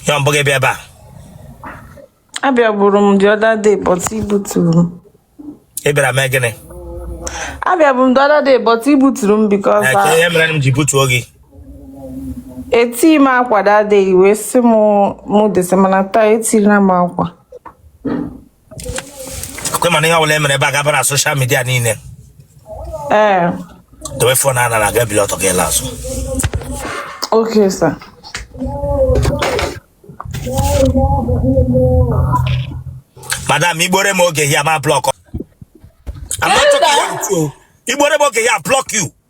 ya mbụ gị bịa ebe a abịaburu m the other day but i buturu m ị bịara mee gịnị abịabu m the other day but i buturu m because Ee, kedu ihe mere m ji butuo gị eti m akwa that day wee sị m mụ descend mana taa etirila m akwa kwe m na ihe ọbụla e mere ebe a ga-aba na social media niile ee dowe fon ahụ n'ala gị bilie ọtọ gị laa azụ okay sir madam igbore m oge ya ma blọk igbore m oge ya blọk you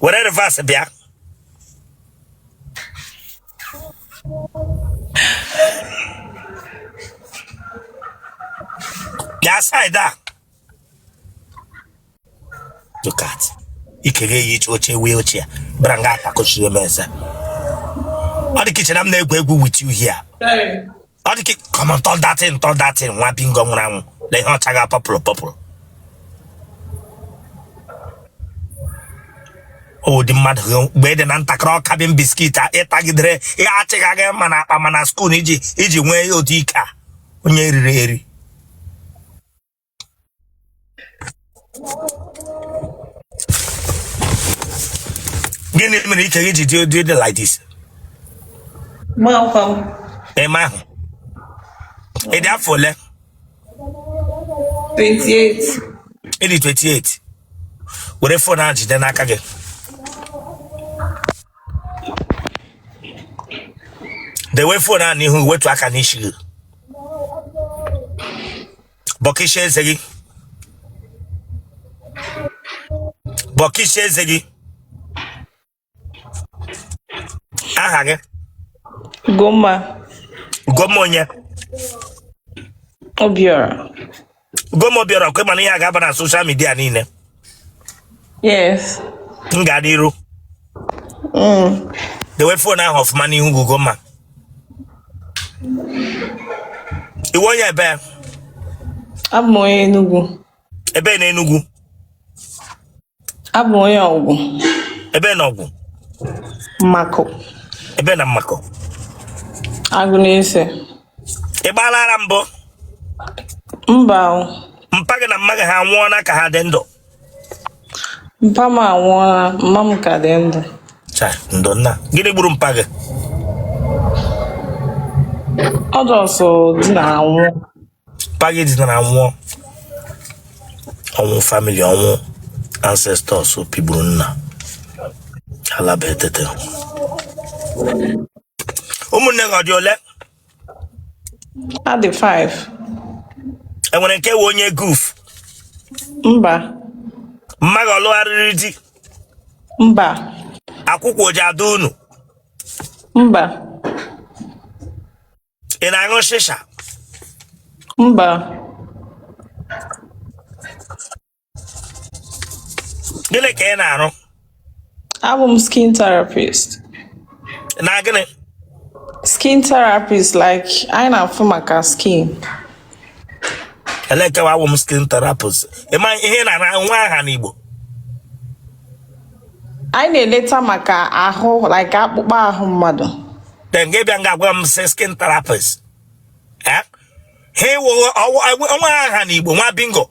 were reverse bịa bịa side a look at ike gị yiri oche wheelchair bịara nga a takụchiri m eze ọ dị ka i che na m na-egwu egwu with you here ọ dị ka come on turn that thing turn that thing nwa bingo nwụrụ anwụ lee ihe ọcha gị a purple purple ụdị mmadụ gị mgbe ị dị na ntakịrị ọ cabin biscuit a ị tagidere ihe a chịga gị ma n'akpa ma na skuul iji iji nwee ụdị ike a onye e riri eri gịnị mere ike gị ji dị ụdị dị like this Amakwa m. ị mahụ ị dị afọ ole 28. ị dị 28 were fon ahụ jide n'aka gị dewe fon ahụ n'ihu wetuo aka n'isi gị bọkisha eze gị bọkisha eze gị aha gị Ugomma Ugomma onye Obiora. Ugomma Obiora kwe m na ihe a ga-aba na social media niile Yes. M gaa n'iru. Mm. Dewe fon ahụ ọfụma n'ihu gị Ugomma. Ị wụ onye ebee? Abụ m onye Enugu. Ebee na Enugu? Abụ m onye Ọgwụ. Ebee na Ọgwụ? Mmakụ. Ebee na Mmakụ? Agụnese. ị gbaala ara mbụ mba o mpa gị na mma gị ha anwụọla ka ha dị ndụ mpa m anwụọla mma m ka dị ndụ Cha, ndo nna gịnị gburu mpa gị ọ just dina nwụọ mpa gị dinara nwụọ ọnwụ family ọnwụ ancestors pịgburu nna alaba etete ụmụnne gị ha dị ole ha dị 5 e nwere nke wụ onye guf mba mma gị ọ lụgharịrị di mba akwụkwụ ọ ji adọ unu mba ị na-aṅụ shisha mba gịnị ka ị na-arụ awụ m skin therapist na gịnị skin therapist like anyị na-afụ maka skin elee ke wụ awụ m skin therapist ị ma ihe ị na-arụ nwe aha n'Igbo anyị na-eleta maka ahụ like akpụkpọ ahụ mmadụ then gị bịa nga gwa m sị skin therapist ha iwụghị o nwe aha n'Igbo nwa bingo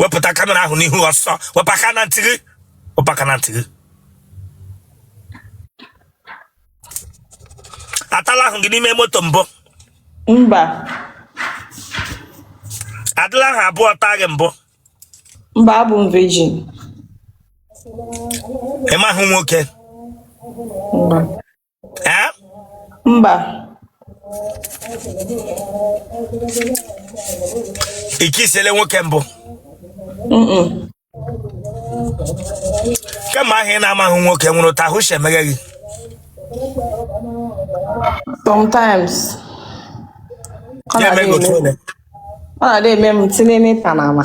wepụta kamera ahụ n'ihu ọsọ wepụ aka na ntị gị wepụ aka na ntị gị atala ahụ gị n'ime moto mbụ mba adịla ahụ abụọ taa gị mbụ mba abụ m virgin ị mahụ nwoke mba ee mba i kissiele nwoke mbụ kemgbe ahụ ị na-amahụ nwoke nwụrụ ụta ahụ si emeghe gị sometimes ọ na-adị eme m tinye n'ịpa na ama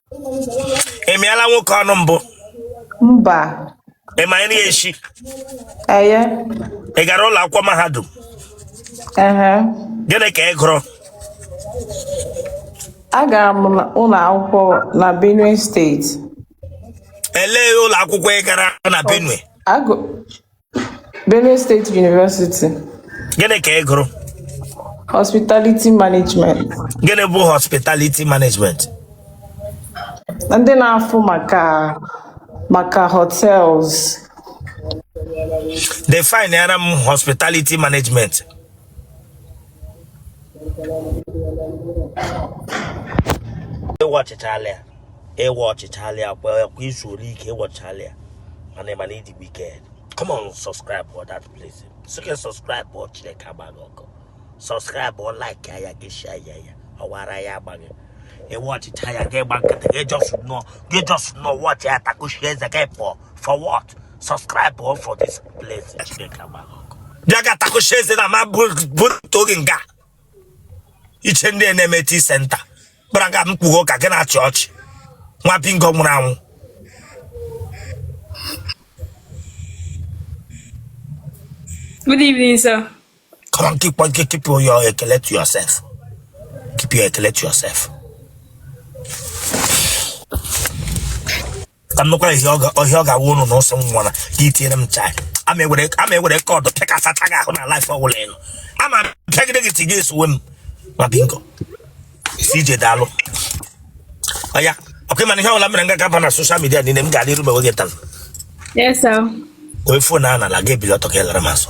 ị mịala nwoke ọnụ mbụ mba ị ma nri eshi eye ị gara ụlọ akwụkwọ mahadum ehe gịnị ka ị gụrụ agara m na- ụlọ akwụkwọ na Benue State elee ụlọ akwụkwọ ị gara na Benue Agụ- Benue State University, gịnị ka ị gụrụ Hospitality Management. gịnị bụ hospitality management Ndị na-afụ maka maka hotels. defineara m hospitality management ị watchịchalị ya ị watchịchalị ya kwa kwa izu ole ike ị watchịchalị ya mana ị ma na ị dị wicked come on subscribe for that place so gị subscribe for chineke agbaa gị ọkụ subscribe for like ya gị share ya ya ọ wụ ara ya agba gị ị watchịcha ya gị gba nkịtị gị just nọ gị just nọ watch ya takwụshị eze gị pụọ for what subscribe o for this place chineke agbara ọkụ bịa ga takwụsị eze na ma bụrụta oge nga ị che ndị a na-eme tii senta kpara ga mkpughe ụka gị na-achị ọchị nwa bingo nwụrụ anwụ Good evening, sir. Come on, keep on, keep, keep your ekele to yourself. Keep your ekele to yourself. ka nnukwu ihe ọhịa ọ ga-awụ ụnụ na ụsọ nwa na ka itinyere m chai ama ewere ama ewere cord pịkasata gị ahụ na live ọwụla ị nọ ama pịagide gị tiga esowe m nwa bingo CJ daalụ oya okay mana ihe ọbụla mere nga ga-aba na social media niile m ga-adị iru mewe gị taa onye fon a nala ga-ebili ọtọ ka ị lara m asụ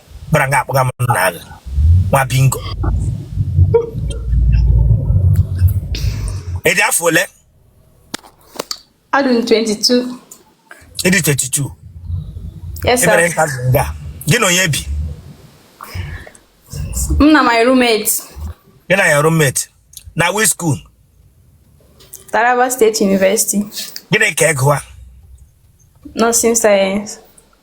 gbara nga akpọga m na aha nwa bingo ị dị afọ ole adị m 22 ị dị 22 yes ebere sir nka dị nga gị na onye bi m na my roommate gị na your roommate na which school taraba state university gịnị ka ị gụwa nursing science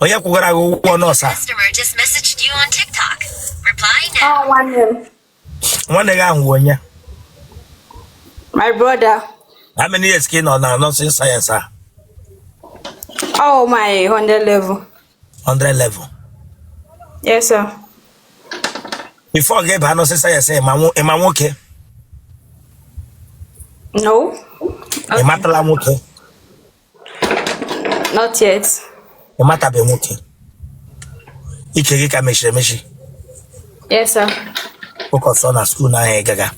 onye kwụgara gị ụgwọ nurse a Customer just messaged you on TikTok. Reply now. Ọ nwanne m. nwanne gị ahụ wụ onye My brother. how many years ka ị nọ na nursing science a Oh my hundred level. 100 level Yes, sir. before gị baa nursing science ị ma nwo- ị ma nwoke No, ị matala nwoke not yet. ị matabe nwoke ike gị ka mechiri emechi Yes, sir. Focus on na school ahụ ị gaga.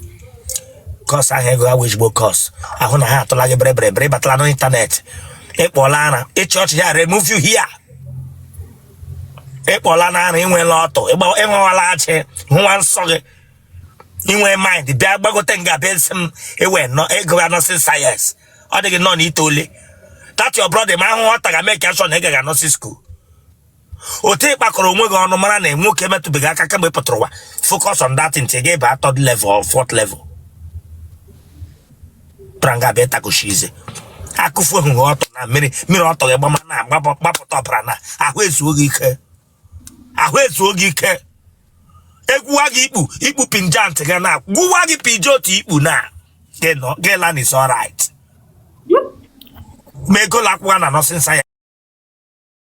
Course ahụ ị gụga wụ ezigbo course. Ahụ na ha atụla gị bịrịbịrị bịrị batala n'ịntanetị. Ị kpọla ara, ị chịa ọchị I remove you here. Ị kpọlana ara ị nwela ọtụ, ị nwewala ajị, hụwa nsọ gị. I nwe mind, bịa gbagote nga bịa sị m ewe nọ ị gụwa nursing science. Ọ dịghị nọ n'ite ole. That your brother ma ahụhụ ọ taga make sure na ị gaga nursing school. otu ị kpakọrọ onwe gị ọnụ mara na nwoke metụbeghị aka kemgbe ị pụtara ụwa focus on that until gị baa third level or fourth level ị bịara nga bịa takoshi eze akụfuo gị ọtụ na mmiri mmiri ọtụ gị gbama na-agbapụta ọbara na ahụ ezuo gị ike ahụ ezuo gị ike egwuwa gị ikpu ikpu pinjant gị na gwuwa gị pije otu ikpu na gị lan is alright ma ị gụọla akwụkwọ na nursing science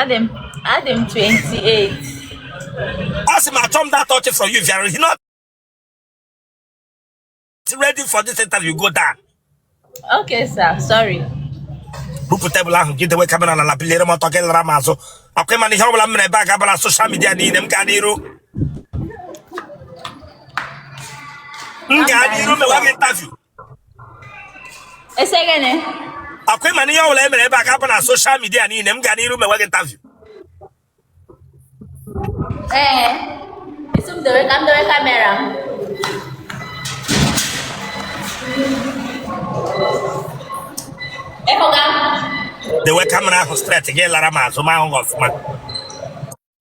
Adị m adị m 28. Asị m achọ m that touch from you if you are not ready for this interview go down. Okay sir, sorry. Bupụ tebụl ahụ gị dewe kamera na ala biliere m ọtọ gị lara m azụ akwa ịma na ihe ọbụla m mere ebe a ga-aba na social media niile m gaa n'iru m gaa n'iru mewa gị interview Ị sị gịnị? Akwa ịma na ihe ọbụla e mere ebe a ga-aba na social media niile m ga n'iru mewe gị interview. Ee, ị sị m dewe ka m dewe kamera m. Ịhụga m? Dewe kamera ahụ straight gị lara m azụ m hụ gị ọfụma.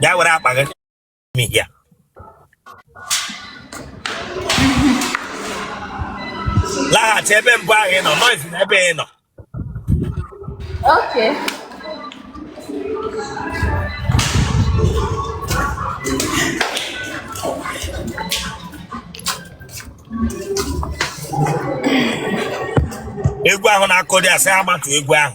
bịa were akpa gị mihia laghachi ebe mbụ ahụ ị nọ noise na ebe ị nọ Okay. egwu ahụ na-akụ dị asị amatụ egwu ahụ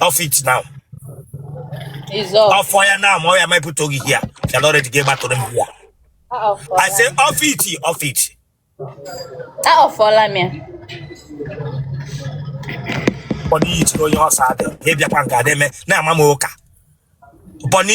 off it now It's off. off ya now ma ọ ya mepụta oge here you are not ready gị gbatụrụ m here Ah, off. I say off it off it Ah, offụọla m ya. bọni yitiri onye ọsọ adị ịbịakwa nke adị eme na-ama m ụka bọni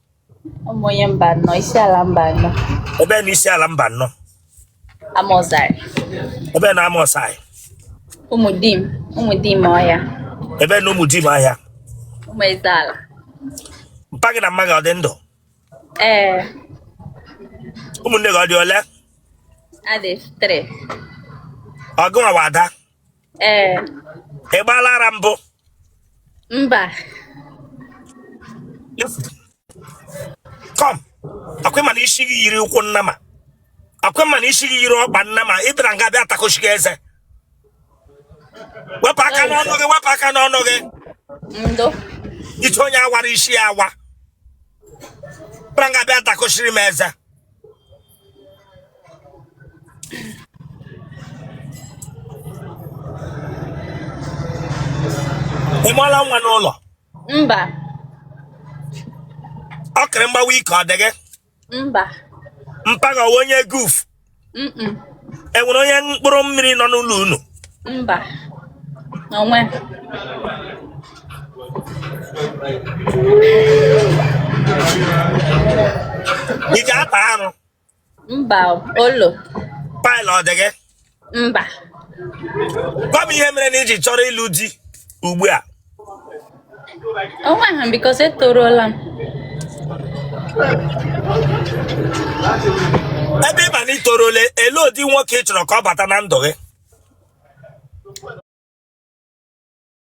Awụ m onye Mbanọ, Isiala Mbanọ. ebe na Isiala Mbanọ Amauzari. ebe na Amauzari Ụmụdim, Ụmụdimọhịa. ebe na Ụmụdimọhịa Ụmụezeala. mpa gị na mma gị ọ dị ndụ Ee, ụmụnne gị ọ dị ole adị three. ọ gị nwa bụ ada ee ị gbaala ara mbụ mba come akwa ịma na isi gị yiri ụkwụ nnama akwa ịma na isi gị yiri ọkpa nnama ị bịara nga bịa takochi gị eze wepụ aka n'ọnụ gị wepụ aka n'ọnụ gị ndo ite onye awara isi ya awa bịara nga bịa takochiri m eze ị mụọla nwa n'ụlọ mba ọkịrị mgbawa ike ọ dị gị mba mpaghara ọwa onye guf mm enwere onye mkpụrụ mmiri nọ n'ụlọ unu mba onwe ị ga-ata arụ mba olo paịlụ ọ dị gị mba gwa m ihe mere na iji chọrọ ịlụ di ugbu a onwe ha because etorola m ebe ọ bụ na itorole ele ụdị nwoke ị chọrọ ka ọ bata na ndụ gị